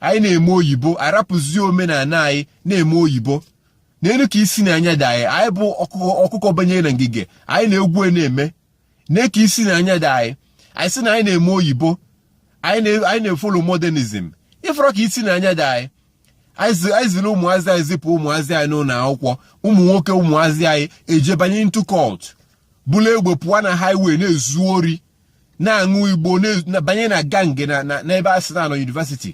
anyị na-eme oyibo arapụzie omenala anyị na-eme oyibo nelu ka isi na anya dị anyị anyị bụ ọkụkọ banyere na ngige anyị na-egwu e na-eme ne ka isi na anya dị anyị anyị sị na anyị na-eme oyibo anyị na-efolo modernizm ị fụrụ ka isi na anya dị anyị anyị ziri ụmụazị anyị zipụ ụmụazị anyị n'ụlọ akwụkwọ ụmụ nwoke ụmụazị anyị ejebanye into cult bulu egbe pụọ na highway na-ezu ori na-aṅụ igbo banye na gang n'ebe a sị na a nọ yunivasiti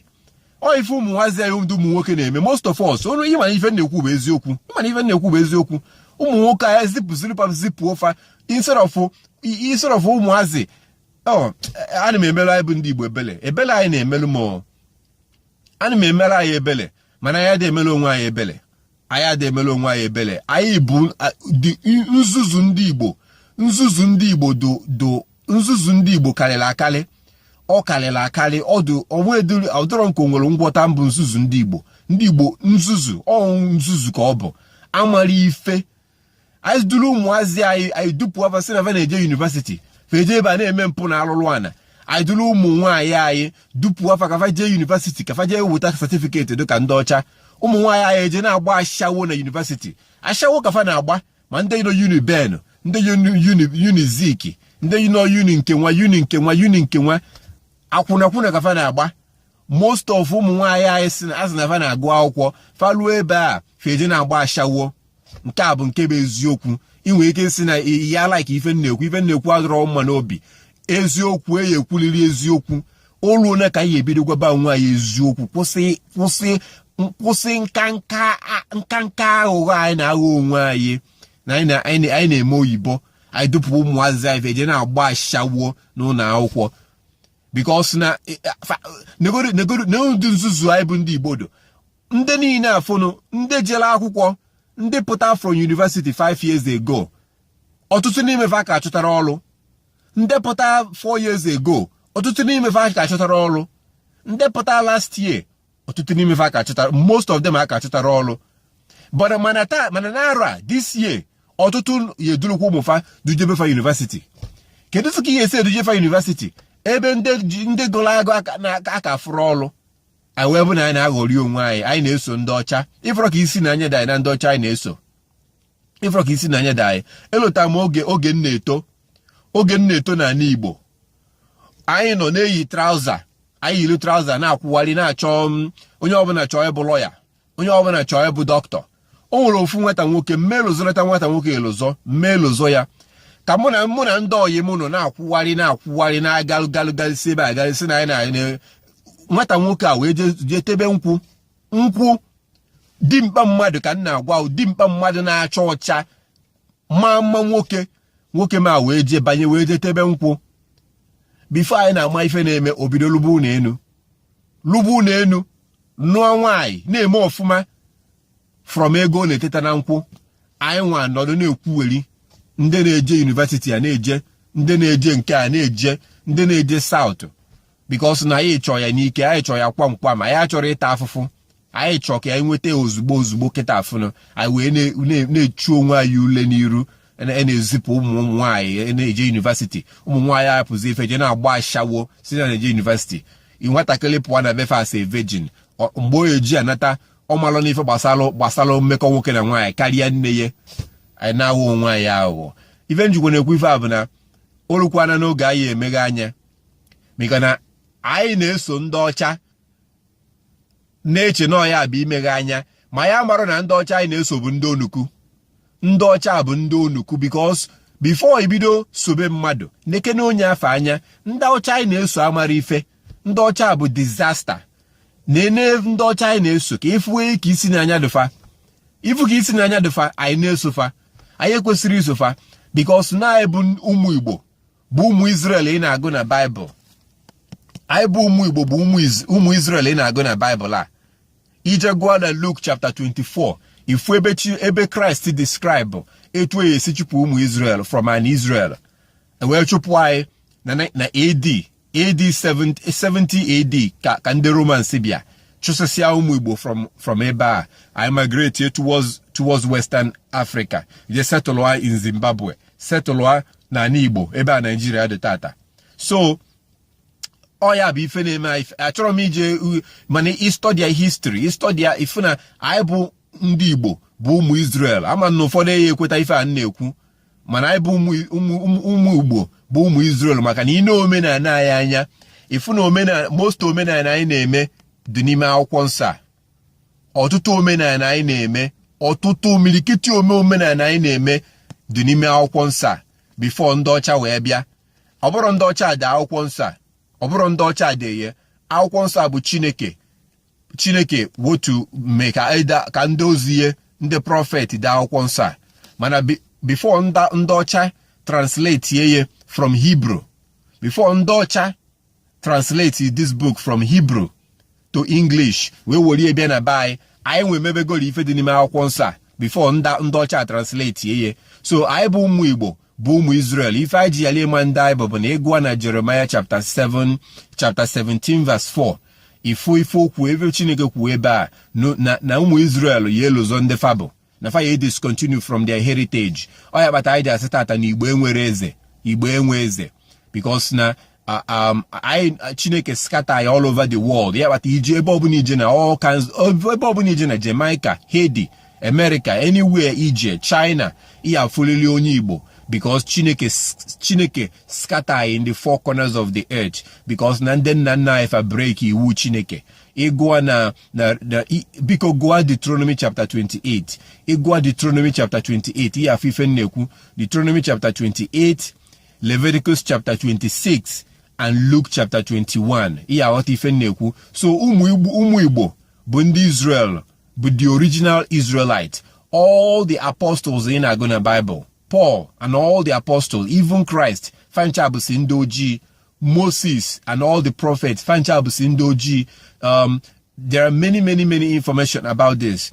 ọ ife ụmụazị anyị ndị ụmụ nwoke na-eme most of us unu ị ma na ife m na-ekwu bụ eziokwu ị ma na ife m na-ekwu bụ eziokwu ụmụ nwoke anyị zipụ ziri fa zipụọ fa instead of instead of ụmụazị oh, ana m emere anyị bụ ndị igbo ebele ebele anyị na-emelu m ana m emere anyị ebele mana anyị adị emere onwe anyị ebele anyị adị emere onwe anyị ebele anyị bụ nzuzu ndị Igbo nzuzu ndị Igbo do nzuzu ndị Igbo karịrị akarị ọ karịrị akarị ọdụ onwe ediri ọ dịrọ nke nwere ngwọta mbụ nzuzu ndị Igbo ndị Igbo nzuzu ọ bụ nzuzu ka ọ bụ amara ife anyị duru ụmụazị anyị anyị dupụa fa sị na fa na-eje yunivesiti fa eje ebe a na-eme mpụ na alụlụ ana anyị duru ụmụ nwaanyị anyị dupụa fa ka fa jee yunivesiti ka fa jee weta satifiketi dịka ndị ọcha ụmụ nwaanyị anyị eje na-agba ashawo na yunivesiti ashawo ka fa na-agba ma ndị nọ Uniben ndị Unizik ndị nọ yuni nke nwa yuni nke nwa yuni nke nwa akwụnakwụna ka fa na-agba most of ụmụ nwaanyị anyị sị na fa na-agụ akwụkwọ fa luo ebe a fa eje na-agba ashawo nke a bụ nke bụ eziokwu i nwere ike sị na ị ya-alaiki ife m na-ekwu ife m na-ekwu adịrọ mma n'obi eziokwu a ya-ekwulịrị eziokwu o luole ka anyị ebido gwaba onwe anyị eziokwu kwụsị kwụsị kwụsị nkanka nkanka aghụghọ anyị na-aghọ onwe anyị na anyị na-eme oyibo anyị dupụ ụmụazị anyị eje na-agba ashawo n'ụlọ akwụkwọ bikos na e, e, negodu ndị nzuzu anyị bụ ndị igbo do ndị niile afụnụ ndị jere akwụkwọ ndị pụta from university five years ago ọtụtụ n'ime fa aka achọtarọ ọrụ ndị pụta four years ago ọtụtụ n'ime fa aka achọtarọ ọrụ ndị pụta last year ọtụtụ n'ime fa aka achọtarọ most of them aka achọtarọ ọrụ but mana taa mana na arọ a this year ọtụtụ ya-edurukwa ụmụ fa dujebe fa university kedu ka i ya-esi eduje fa university ebe ndị gụrụ agụ aka afụrọ ọrụ anyị wee bụ na anyị na-aghọrị onwe anyị anyị na-eso ndị ọcha ị fụrụ ka isi na anya dị anyị na ndị ọcha anyị na-eso ị fụrụ ka isi na anya dị anyị elota m oge oge m na-eto oge m na-eto n'anị Igbo anyị nọ na-eyi traụza anyị yiri traụza na-akwụgharị na-achọ mm, onye ọbụna achọọ ịbụ lọya onye ọbụla chọọ ịbụ dọkịta o nwere ofu nwata nwoke mmee lụzọrọta nwata nwoke elụzọ m me-elụzọ ya ka mụ na mụ na ndị oyi m nọ na-akwụgharị na-akwụgharị na-agalụgalụgalụsi ebe agalụsi na anyị na nwata nwoke a wee jee tebe nkwụ nkwụ dimkpa mmadụ ka m na-agwa dimkpa mmadụ na-acha ọcha ma mma nwoke nwoke m a wee jee banye wee jee tebe nkwụ bifo anyị na-ama ife na-eme o bido lụba ụnọ enu lụba ụnọ enu nụọ nwaanyị na-eme ọfụma from ego ọ na-eteta na nkwụ anyị nwa nọdụ na-ekwuweri ndị na-eje yunivesiti a na-eje ndị na-eje nke a na-eje ndị na-eje saụtụ bikos na anyị chọọ ya n'ike anyị chọọ ya kwamkwam anyị achọrọ ịta afụfụ anyị chọọ ka anyị nweta ozugbo ozugbo kịta afụnụ anyị wee na-echu onwe anyị ule n'iru e na-ezipụ ụmụ ụmụ nwaanyị e na-eje yunivasiti ụmụ nwaanyị apụzi ife je na-agba ashawo sị na a na-eje yunivasiti nwatakịrị pụọ na be fe as a virgin mgbe o ji anata ọ malụna ife gbasara gbasara mmekọ nwoke na nwaanyị karịa nne ya anyị na-aghọ onwe anyị aghụghọ ife m jikwa na-ekwu ife a bụ na o lukwana n'oge anyị emeghe anya maka na anyị na-eso ndị ọcha na-eche na ọ ya bụ imeghe anya ma anyị amarọ na ndị ọcha anyị na-eso bụ ndị onuku ndị ọcha bụ ndị onuku bikos bifo i bido sobe mmadụ nekene onye afụ anya ndị ọcha anyị na-eso amarọ ife ndị ọcha bụ dizasta nene ndị ọcha anyị na-eso ka ị fụwe ka isi na anya dụ fa ị fụ ka isi na anya dụ fa anyị na-eso fa anyị ekwesirọ iso fa bikos na anyị bụ ụmụ igbo bụ ụmụ Izrel ị na-agụ na Baịbụl anyị bụ ụmụ Igbo bụ ụmụ Izrel ị na-agụ na Baịbụl a i je gụọ na Luk chapta 24 ị fụ ebe chi ebe Kraịst describe etu e esi chụpụ ụmụ Izrel from ana Izrel e wee chụpụ anyị na AD AD 70 AD ka ka ndị Romans bịa chụsịsịa ụmụ Igbo from from ebe a anyị migrate towards towards Western Africa je setụlụa in Zimbabwe setụlụa n'ana Igbo ebe a Naijiria dị tata so ọ ya bụ ife na-eme achọrọ m ije mana ị stọdịa histri ị stọdịa ị fụ na anyị bụ ndị Igbo bụ ụmụ Israel ama m na ụfọdụ eyi ekweta ife a m na-ekwu mana anyị bụ ụmụ Igbo bụ ụmụ Israel maka na i nee omenana anyị anya ị fụ na omenana most omenana anyị na-eme dị n'ime akwụkwọ nsọ a ọtụtụ omenana anyị na-eme ọtụtụ imirikiti ome omenana anyị na-eme dị n'ime akwụkwọ nsọ a bifo ndị ọcha wee bịa ọ bụrọ ndị ọcha dee akwụkwọ nsọ a ọ bụrọ ndị ọcha dee ye akwụkwọ nsọ a bụ chineke chineke wotu mee ka e ka ndị ozi ye ndị prọfet dee akwụkwọ nsọ a mana bifo ndị ọcha translate ye from hibru bifo ndị ọcha translate this book from Hebrew to English wee were bịa na be anyị anyị nwa emebegoro ife dị n'ime akwụkwọ nsọ a before ndị ọcha translate ya so anyị bụ ụmụ Igbo bụ ụmụ Israel ife anyị ji yala ịma ndị anyị bụ bụ na ị gụa na Jeremiah chapter 7 chapter 17 verse 4 ife ife o kwu ebe Chineke kwuo ebe a na ụmụ Israel ya-elozọ ndị fa bụ na fa ya discontinue from their heritage ọ ya kpata anyị ji asị tata na igbo enwerọ eze igbo enwe eze because na um, anyị chineke scatter ya all over the world ya kpata i je ebe ọbụla i je na ebe ọbụla i je na Jamaica Haiti America anywhere i je China ị ya-afụlịlị onye igbo because chineke chineke scatter in the four corners of the earth because na ndị nna nna anyị fa break iwu chineke ị gụa na na na biko gụa Deuteronomy chapter 28 ị gụa Deuteronomy chapter 28 ị ya-afụ ife m na-ekwu Deuteronomy chapter 28 Leviticus chapter 26 and Luke chapter 21 ị ya-aghọta ife m na-ekwu so ụmụ Igbo bụ ndị Israel bụ the original Israelite all the apostles ị na-agụ na Bible Paul and all the apostles even Christ fa ncha bụsị ndị ojii Moses and all the prophets fa ncha bụsị ndị ojii um, there are many many many information about this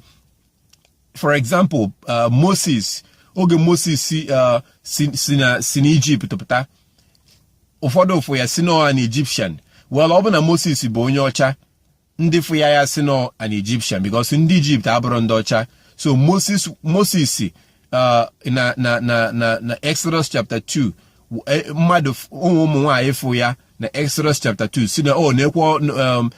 for example uh, Moses oge Moses si uh, si na si n'Egypt pụta ụfọdụ fụ ya sị na ọ an Egyptian well ọ bụ na Moses bụ onye ọcha ndị fụ ya ya-asị na ọ an Egyptian because ndị Egypt abụrọ ndị ọcha so Moses Moses uh, na na na na na Exodus chapter 2 e, mmadụ ụmụ ụmụ nwaanyị fụ ya na Exodus chapter 2 sị na ọ na-ekwe um,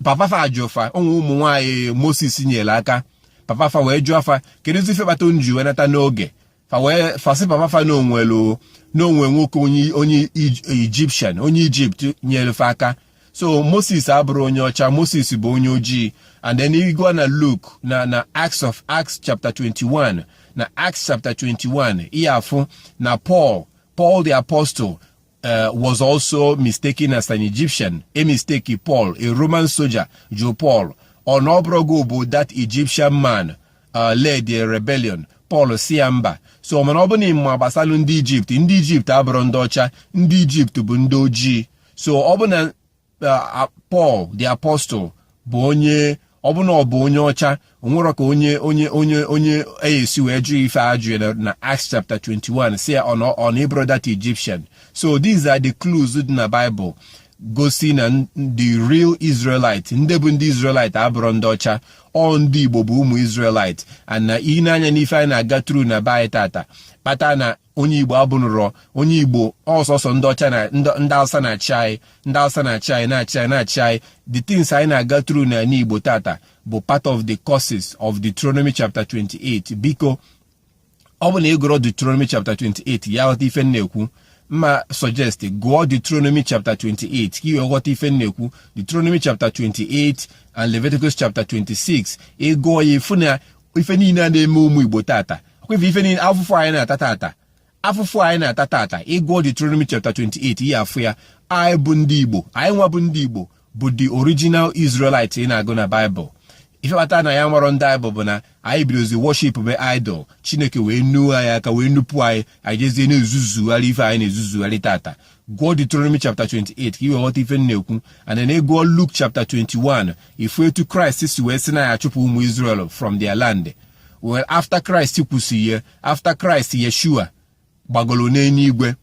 papa fa ajụ fa ụmụ ụmụ nwaanyị Moses nyelu aka papa fa wee jụọ fa kedu ife kpata unu ji wee nata n'oge fa wee fa sị papa fa na o nwelu na o nwe nwoke onye onye Egyptian onye Egypt nyelu fa aka so Moses abụrọ onye ọcha Moses bụ onye ojii and then ị gụa na Luke na na Acts of Acts chapter 21 na Acts chapter 21 ị ya-afụ na Paul Paul the apostle Uh, was also mistaken as an Egyptian, e mistake Paul, a Roman soldier, jụ Paul ọ na ọ bụrọ gị bụ that Egyptian man uh, led a rebellion. Paul sị ya mba so mana ọ bụ na ị ma gbasalụ ndị Egypt ndị Egypt abụrọ ndị ọcha ndị Egypt bụ ndị ojii so ọ bụ na eh, Paul the apostle bụ onye ọ bụ na ọ bụ onye ọcha o nwerọ ka onye onye onye onye ya-esi wee jụ ife a jụ na Acts chapter 21 sị ọ na ọ bụrọ that Egyptian so these are the clues dị na Bible gosi na the real israelite ndị bụ ndị israelite abụrọ ndị ọcha ọ ndị igbo bụ ụmụ israelite and na ị nee anya n'ife anyị na-aga through na be anyị tata kpata na onye igbo abụnụrọ onye igbo ọ sọsọ ndị ọcha na ndị awụsa na-achị anyị ndị awụsa na-achị anyị na-achị anyị na-achị anyị the things anyị na-aga through na ala igbo tata bụ part of the curses of Deuteronomy chapter 28 biko ọ bụ na ị gụrụ Deuteronomy chapter 28 ị ya-aghọta ife m na-ekwu m a-suggest gụọ Deuteronomy chapter 28 ka i wee ghọta ife m na-ekwu Deuteronomy chapter 28 and Leviticus chapter 26 ị gụọ ya ị fụ na ife niile a na-eme ụmụ igbo tata ọkwa ife niile afụfụ anyị na-ata tata afụfụ anyị na-ata tata ị gụọ Deuteronomy chapter 28 ị ya-afụ ya anyị bụ ndị Igbo anyị nwa bụ ndị Igbo bụ the original Israelite ị na-agụ na Bible ife kpata na ya nwere ndị anyị bụ na anyị bidozi worship be idol chineke wee nuo anyị aka wee nupụ anyị anyị jezie na-ezuzugharị ife anyị na-ezuzugharị tata gụọ Deuteronomy chapter 28 ka i wee ghọta ife m na-ekwu and then ị gụọ Luke chapter 21 ị fụ etu Christ si wee sị na a ya-achụpụ ụmụ Israel from their land well after Christ kwusị ya after Christ Yeshua gbagolo n'enuigwe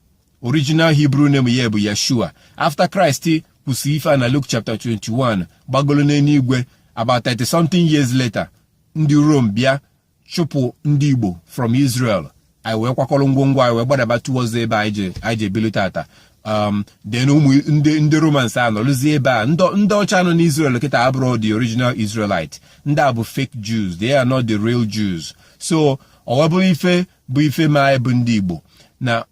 original Hebrew name ya bụ Yeshua after Christ kwusị ife a na Luke chapter 21 gbagolo n'enuigwe about 30 something years later ndị Rome bịa chụpụ ndị Igbo from Israel anyị wee kwakọrọ ngwongwo anyị wee gbadaba towards ebe anyị ji anyị ji ebili tata um, then ụmụ ndị ndị romans anọlụzie ebe a ndị ọcha nọ n'israel kịta abụrọ the original israelite ndị a bụ fake jews they are not the real jews so ọwa bụrụ ife bụ ife ma anyị bụ ndị igbo na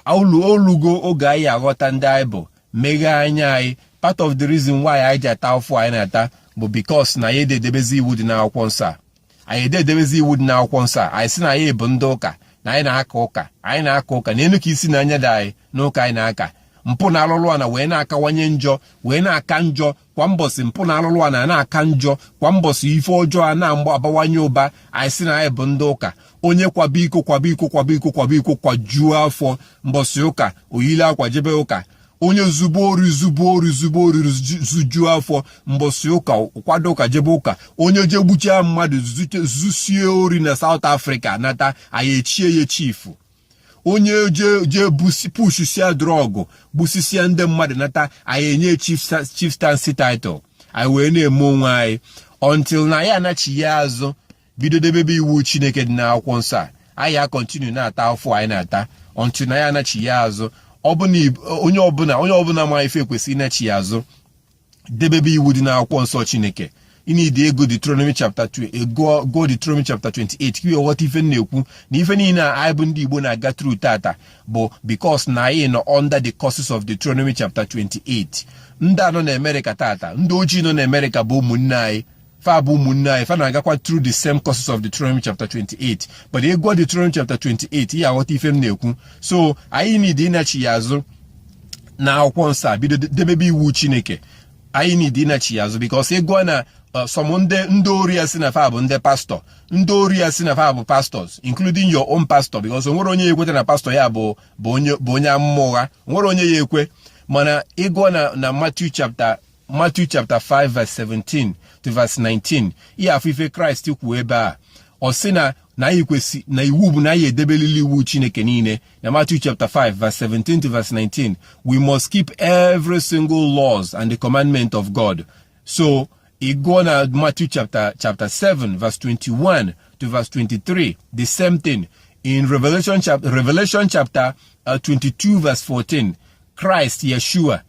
o lugo oge anyị ya-aghọta ndị anyị bụ meghee anya anyị part of the reason why anyị ji ata afụfụ anyị na-ata bụ because na anyị adị edebezi iwu dị n'akwụkwọ nsọ a anyị adị edebezi iwu dị n'akwụkwọ nsọ a anyị sị na anyị bụ ndị ụka na anyị na-aka ụka anyị na-aka ụka na enu ka isi na anya dị anyị n'ụka anyị na-aka mpụ na alụlụ ana wee na-akawanye njọ wee na-aka njọ kwa mbọsị mpụ na alụlụ ana na-aka njọ kwa mbọsị ife ọjọọ a na-abawanye ụba anyị sị na anyị bụ ndị ụka onye kwaba iko kwaba iko kwaba iko kwaba iko kwajuo afọ mbọsị ụka o yili akwa jebe ụka onye zube ori zube ori zube ori zujuo afọ mbọsị ụka kwado ụka jebe ụka onye je gbuchia mmadụ zusie ori na South Africa nata anyị echie ya chief onye je pushisia drọgụ gbusisia ndị mmadụ nata anyị enye chieftaincy title anyị wee na-eme onwe anyị until na anyị anachiya azụ bido debebe iwu chineke dị n'akwụkwọ nsọ a anyị a-continue na-ata afụfụ anyị na-ata until na anyị anachiya azụ onye ọbụla onye ọbụla ma ife kwesịrị ịnachiya azụ debebe iwu dị n'akwụkwọ nsọ chineke ị need ịgụ Deuteronomy chapter 2 ịgụ Deuteronomy chapter 28 ka i wee ghọta ife m na-ekwu na ife niile a anyị bụ ndị Igbo na-aga through tata bụ because na anyị nọ under the curses of Deuteronomy chapter 28 ndị a nọ na America tata ndị ojii nọ na America bụ ụmụnne anyị fa bụ ụmụnne anyị fa na-agakwa through the same curses of Deuteronomy chapter 28 but ị gụọ Deuteronomy chapter 28 ị ya aghọta ife m na-ekwu so anyị need ịnachi ya azụ na akwụkwọ nsọ a bido debebe iwu Chineke anyị need ịnachi ya azụ because ị gụọ na uh, some ndị ndị ori ya sị na fa bụ ndị pastọ ndị ori ya sị na fa bụ pastors including your own pastor because o nwerọ onye ya ekweta na pastọ ya bụ bụ onye amụma ụgha o nwerọ onye ya ekwe mana ị gụọ na na Matthew chapter Matthew chapter 5 verse 17 to verse 19 ị ya afụ ife kraịst kwuo ebe a ọ sị na na anyị kwesị na iwu bụ na anyị edebelili iwu chineke niile na Matthew chapter 5 verse 17 to verse 19 we must keep every single laws and the commandment of God so ị gụọ na Matthew chapter chapter 7 verse 21 to verse 23 the same thing in Revelation chapter Revelation chapter uh, 22 verse 14 Christ Yeshua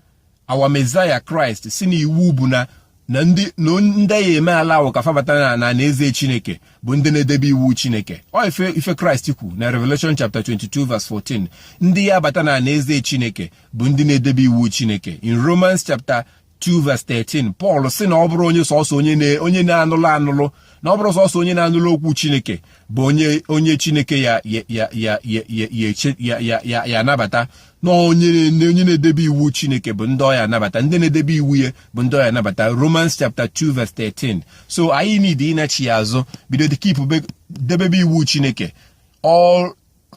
our Messiah kraịst sị na iwu bụ na na ndị ndị ya eme allow ka fa bata na ana eze chineke bụ ndị na-edebe iwu chineke ọ ife ife kraịst kwu na revelation chapter 22 verse 14 ndị ya abata na ana eze chineke bụ ndị na-edebe iwu chineke in romans chapter 2 verse 13 pọl sị na ọ bụrọ onye sọsọ onye na-anụlụ anụlụ na ọ bụrọ sọsọ onye na-anụlụ okwu chineke bụ onye onye chineke ya ya ya anabata na onye na-edebe iwu chineke bụ ndị ọ ya anabata ndị na-edebe iwu ya bụ ndị ọ ya anabata romans chapter 2 verse 13 so anyị need ịnachi ya azụ bido debebe iwu chineke all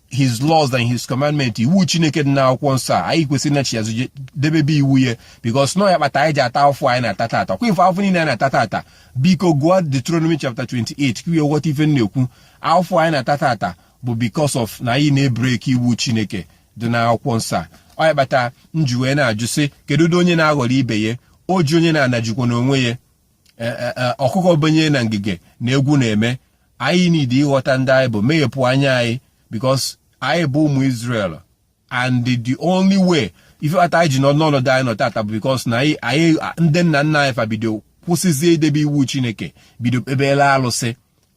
his laws and his commandment iwu chineke dị n'akwụkwọ nsọ a anyị kwesịrị ịnachi azụ debebe iwu ya because na ọ ya kpata anyị ji ata afụfụ anyị na-ata tata kwa ife afụfụ niile anyị na-ata tata biko gụọ Deuteronomy chapter 28 ka i wee ghọta ife m na-ekwu afụfụ anyị na-ata tata bụ because of na anyị na-ebreki iwu chineke dị n'akwụkwọ nsọ a ọ ya kpata m ji wee na-ajụ sị kedu ụdị onye na-aghọrọ ibe ya o ji onye n'ana jikwa onwe ya e, e, e, ọkụkọ benye na ngige na egwu na-eme anyị need ịghọta ndị anyị bụ meghepụ anya anyị because anyị bụ ụmụ Israel and the only way ife kpata anyị ji nọ n'ọnọdụ anyị nọ tata bụ because na anyị ndị nna nna anyị fa bido kwụsịzie idebe iwu Chineke bido kpebela alụsị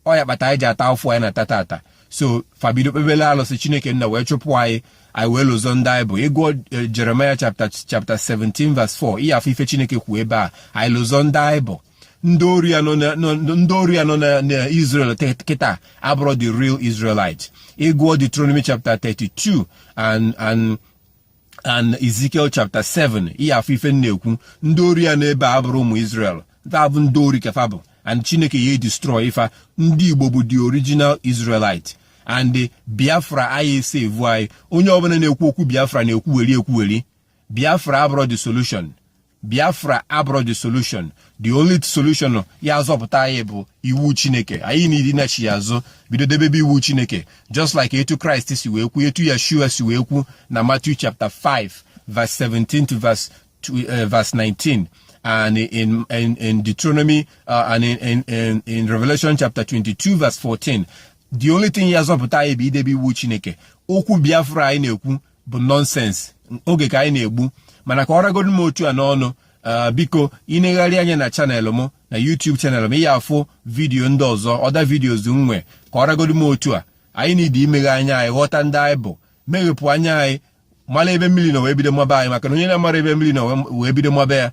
ọ ya kpata anyị ji ata afụfụ anyị na-ata tata so fa bido kpebele alụsị chineke nna wee chụpụ anyị anyị wee lozọ ndị anyị bụ ị gụọ eh, Jeremiah chapter chapter 17 verse 4 ị ya afụ ife chineke kwuo ebe a anyị lozọ ndị anyị bụ ndị ori ya nọ na Israel kịta abụrọ the real Israelite ị gụọ Deuteronomy chapter 32 and and and Ezekiel chapter 7 ị ya afụ ife m na-ekwu ndị ori ya nọ ebe a abụrọ ụmụ Israel fa bụ ndị ori ka fa bụ and Chineke ya destroy fa ndị Igbo bụ the original Israelite and Biafra anyị esevu anyị onye ọbụla na-ekwu okwu Biafra na-ekwuweri ekwuweri Biafra abụrọ the solution biafra abụrọ the solution the only solution ya azọpụta anyị bụ iwu chineke anyị need ịnachigha azụ bido debebe iwu chineke just like etu christ si wee kwu etu yeshua si wee kwu na matthew chapter 5 verse 17 to verse, uh, verse 19 and in, in, in Deuteronomy uh, and in, in, in, in Revelation chapter 22 verse 14 the only thing ya azọpụta anyị bụ idebe iwu chineke okwu biafra anyị na-ekwu bụ nonsense oge ka anyị na-egbu mana ka ọ ragodu m otu a n'ọnụ ah, biko i negharịa anya na channel m na YouTube channel m ị ya-afụ video ndị ọzọ other videos m nwe ka ọ ragodu m otu a anyị need imeghe anya anyị ghọta ndị anyị bụ meghepụ anya anyị mara ebe mmiri nọ wee bido maba anyị maka na onye na-amarọ ebe mmiri nọ wee bido maba ya